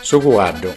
Su cuaddu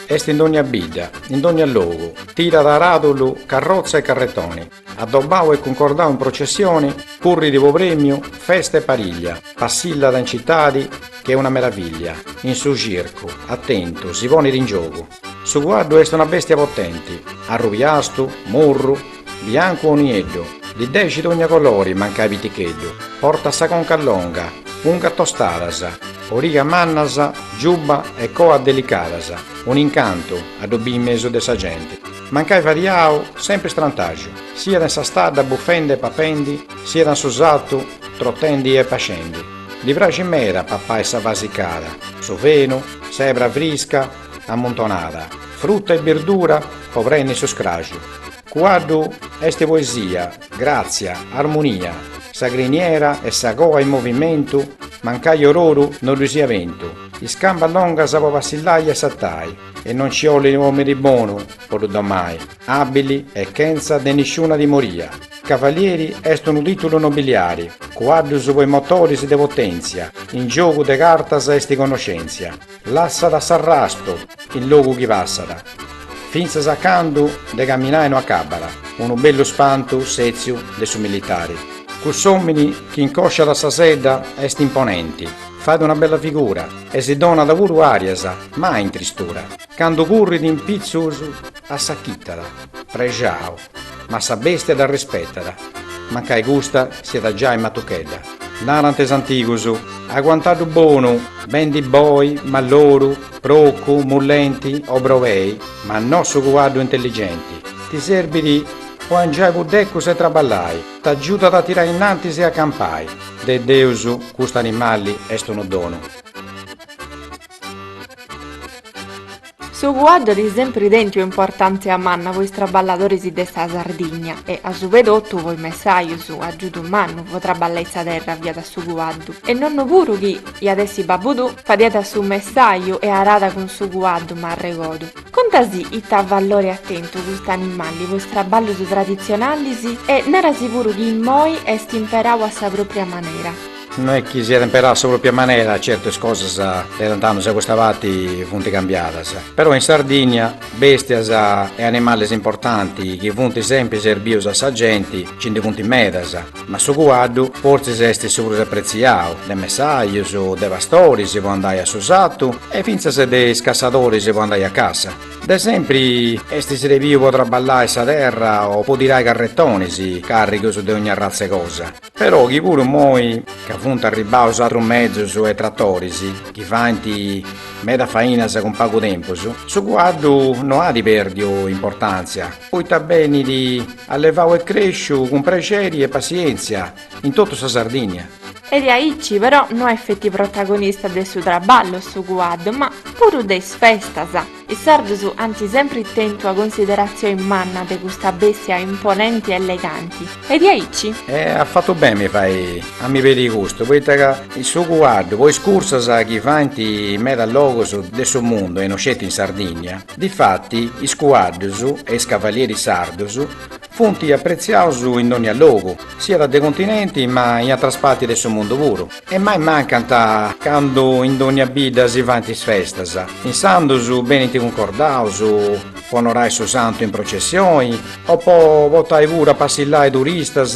est in dogna bidda, in dogna logu, tirat aradulu, carrotza e carretoni, addobbau e cuncordau in processioni, currit po premiu, festa e pariglia, passillat in citadi ch'est una meraviglia, in su circu, attentu, si ponit in giogu. Su cuaddu est una bèstia potenti, arrubiastu, murru, biancu o nieddu, ddi dexit dogna colori mancai piticheddu, portat sa conca longa, ungas tostadas, origas mannas, giubba e coa delicadas, un'incantu a ddu biri in mesu de sa genti, mancai fadiau, sempri strantaxu, siat in sa stadda bufendi e papendi, siat in su sartu trotendi e pascendi. Ddi praxit meda papai sa vasicada, su fenu, s'ebra frisca, ammuntonada, frutta e birdura po prenni su scraju. Cuaddu est poesia, gratzia, armunia, sa criniera e sa coa in movimentu, mancai or'oru no ddu sia bentu, is cambas longas po passillai e satai, e non ci 'olit omini bonu po ddu domai, abili e chentza de nisciuna timoria. Cavalieri est unu titulu nobiliari, cuaddus po is motoris de potentzia, in giogu de cartas est connoscentzia. Lassat s'arrastu in logu chi passat, fintzas a candu de caminai no acabat, unu bellu spantu sètziu de su militari. Cuss'òmini chi incòsciat sa sedda est imponenti, fait una bella figura e si donat puru àrias, mai in tristura, candu currit in pitzus assachitat, prexau. Ma sa bèstia dda rispetat, mancai custa siat giai matuchedda. Narant is antigus, Aguanta-ddu bonu, bendi boi, malloru, procu, mullenti, o brebei, ma no su cuaddu intelligenti. Ti serbit po angiai puddecus e traballai, t'agiudat a tirai innantis e a campai. De Deus custu animali est unu donu. Su cuaddu at sempri tentiu importantzia manna po is traballadoris de sa Sardigna e, a su prus de totu, po is messajus, agiudu mannu po traballai sa terra fiat su cuaddu. E nonnu puru chi iat essi babbudu fadiat su messaju e arada cun su cuaddu, m'arregodu. Contasì ita valori at tentu cust'animali po is traballus traditzionalis e narasi puru chi immoi est imperau a sa propria manera. No est chi siat imperau a sa pròpia manera, certu is cosas de tant'annus a custa parti funt cambiadas, però in Sardìnnia bèstias e animalis importanti chi funt sempri serbius a sa genti nci ndi funt medas, ma su cuaddu fortzis est su prus apretziau, de messajus, de pastoris po andai a su satu e fintzas de is cassadoris po andai a cassa. De sempri est srebiu po traballai sa terra o po tirai carretonis, càrrigus de ogni arratza 'e cosa. Però chi puru moi ca funt arribbaus atrus mezus e tratoris chi faint meda fainas cun pagu tempus, su cuaddu no at pèrdiu importantzia poita benit allevau e cresciu cun prexeri e passientzia in totu sa Sardinnia. E diaici però no est feti protagonista de su trabballu su cuaddu ma puru de is festas. Is sardus ant sempri tentu una consideratzioi manna de custa bestia imponenti e eleganti, e diaici. E at fatu beni mi fai a mi pedi custu, poita ca su cuaddu po is cursas chi faint in meda logus de su mundu e no sceti in Sardìnnia, difati is cuaddus e is cavalieris sardus Funt apretziaus in dònnia logu, siat de continenti ma in atras parti de su mundu puru, e mai mancant candu in dònnia bidda si faint is festas, insandus benint cuncordaus po onorai su santu in processioni o po portai puru a passillai turistas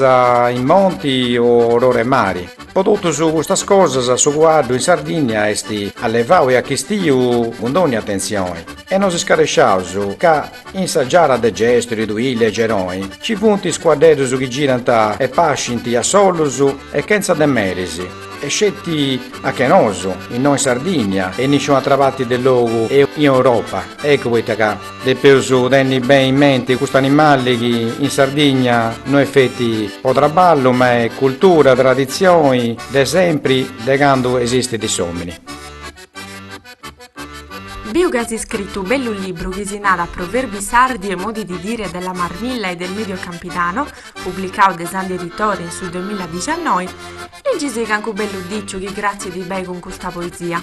in monti o or'ora 'e mari. Po totus custas cosas su cuaddu in Sardìnnia est allevau e achistiu cun dònnia atentzioni e no scaresciaus ca In sa giara de Gesturi, Tuili e Geroi ci funt is cuaddedus chi girant e pascint a sollus e chentza de meris, e sceti a che nosu, innoi in Sardìnnia e in nisciunu atra parti de logu in Europa. Eccu poita ca depeus tenni beni in menti custu animali chi in Sardìnnia no est feti po traballu ma est cultura, traditzioni de sempri de candu esistit s'òmini. Piu, as iscritu u bellu libru chi si narat Proverbi sardi e modi di dire della Marmilla e del Medio Campidano, publicau de Sandi Editore in su duemiladiciannoi, liggisi cancu bellu diciu chi cratzit bei cun custa poesia.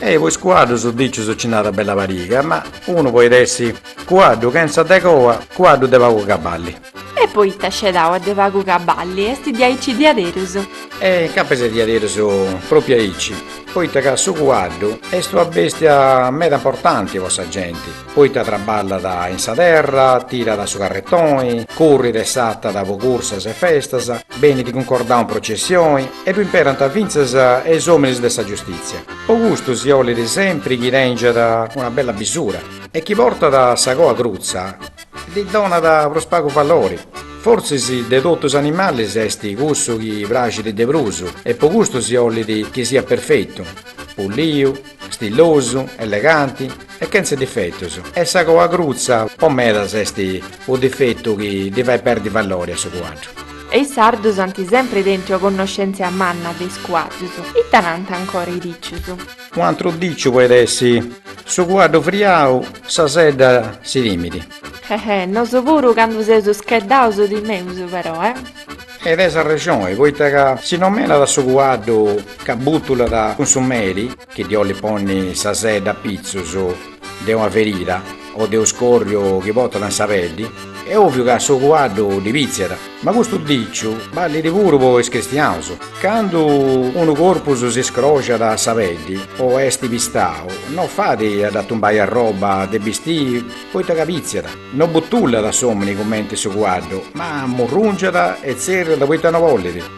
E po is cuaddus dicius ci nd'at bella pariga, ma unu podit essi cuaddu chentza de coa, cuaddu de pagu cabali. E poita scedau a de pagu cabali est diaici diaderus? E capas est diaderus propriu aici, poita ca su cuaddu est una bestia meda importanti po sa genti, poita traballat in sa terra, tirat su carretoni, currit e satat po cursas e festas, benit cuncordau in processioni e ddu imperant fintzas is ominis de sa giustitzia. Po custu si olit sempri chi tengiat una bella bisura e chi portat sa coa crutza Ddi donat prus pagu valori. Fortzis de totu is animalis est cussu chi praxit de prus e po custu si 'olit chi siat perfetu, pulliu, stillosu, eleganti e chentz''e difetus e sa coa crutza po medas est unu difetu chi ddi fait perdi valori a su cuaddu. E is sardus ant sempri tentu una connoscèntzia manna de is cuaddus. Ita nant ancora is dicius? U antru diciu poit essi. Su cuaddu friau sa sedda si timit. Ehè, nosu puru candu seus scheddaus timeus però, eh. E teis arrexoni, poita ca si nomenat su cuaddu ca butulat cun su meri, chi ddi 'olit ponni sa sedda a pitzus. de una ferida o de u scorriu chi portat in sa peddi, e oviu ca su cuaddu ddi pitziat. Ma custu diciu ballit puru po is cristiaus. Candu unu corpus si scroxat a sa peddi o est pistau, no fait a dda tumbai arroba de bistii poita ca pitziat. No butullat s'omini cumenti su cuaddu, ma murrungiat e tzerriat poita no bollit.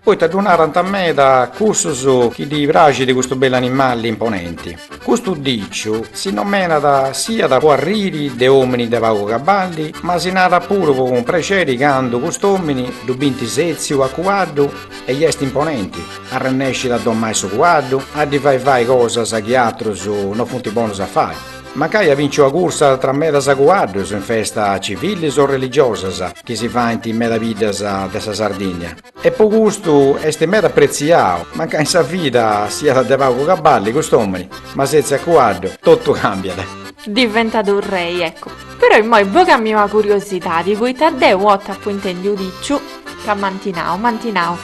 Poita ddu narant meda cussus chi ddi praxit custu bellu animali imponenti. Custu diciu, si nomenat siat po arriri de omini de pagu caballi, ma si narat puru po cumprexeri candu cust'omini ddu binti setziu a cuaddu e i est imponenti, arrennescit a domai su cuaddu, a ddi fai fai cosas chi atrus no funti bonus a fai. Mancai at binciu ua cursa tra medas cuaddus in festas civilis o religiosas chi si faint in meda biddas de sa Sardinnia. E po custu est meda apretziau, mancai in sa vida siat de pagu caballi cust'omini, ma setziu a cuaddu totu cambiat. Diventat u rei, eccu. Però immoi bogami ua curiosidadi, poita deu ua 'otta apu intendiu u diciu ca m'anti nau, m'anti nau,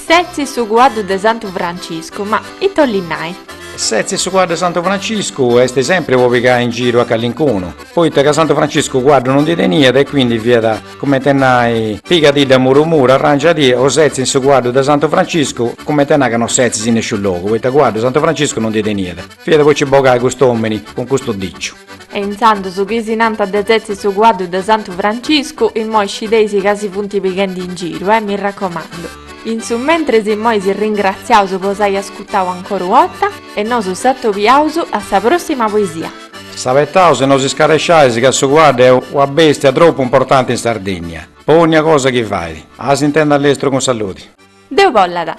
setzi su cuaddu de Santu Franciscu, ma ita 'olit nai? Setzi su cuaddu de Santu Franciscu est sempri po pigai in giru a callincunu, poita ca Santu Franciscu cuaddu no ndi teniat e quindi fiat comente e nai, pigadidda muru muru, arrangiadì o setzi in su cuaddu de Santu Franciscu, comente e nai ca no setzis in nesciu logu, poita cuaddu Santu Franciscu no ndi teniat, fiat po ci bogai custu omini cun custu diciu. E intzandus chi si nanta de setzi su cuaddu de Santu Franciscu, immoi scideisi ca si funti pighendi in giru, eh, mi raccomandu. In su mentris immoi si ringratziaus po s'ai ascutau ancora ua 'otta e nosu s'atobiaus a sa prossima poesia. S'abetaus e no si scaresciais ca su cuaddu est una bestia tropu importanti in Sardinnia po onnia cosa chi fait. A s'intendi a lestru cun saludi. Deus bollat.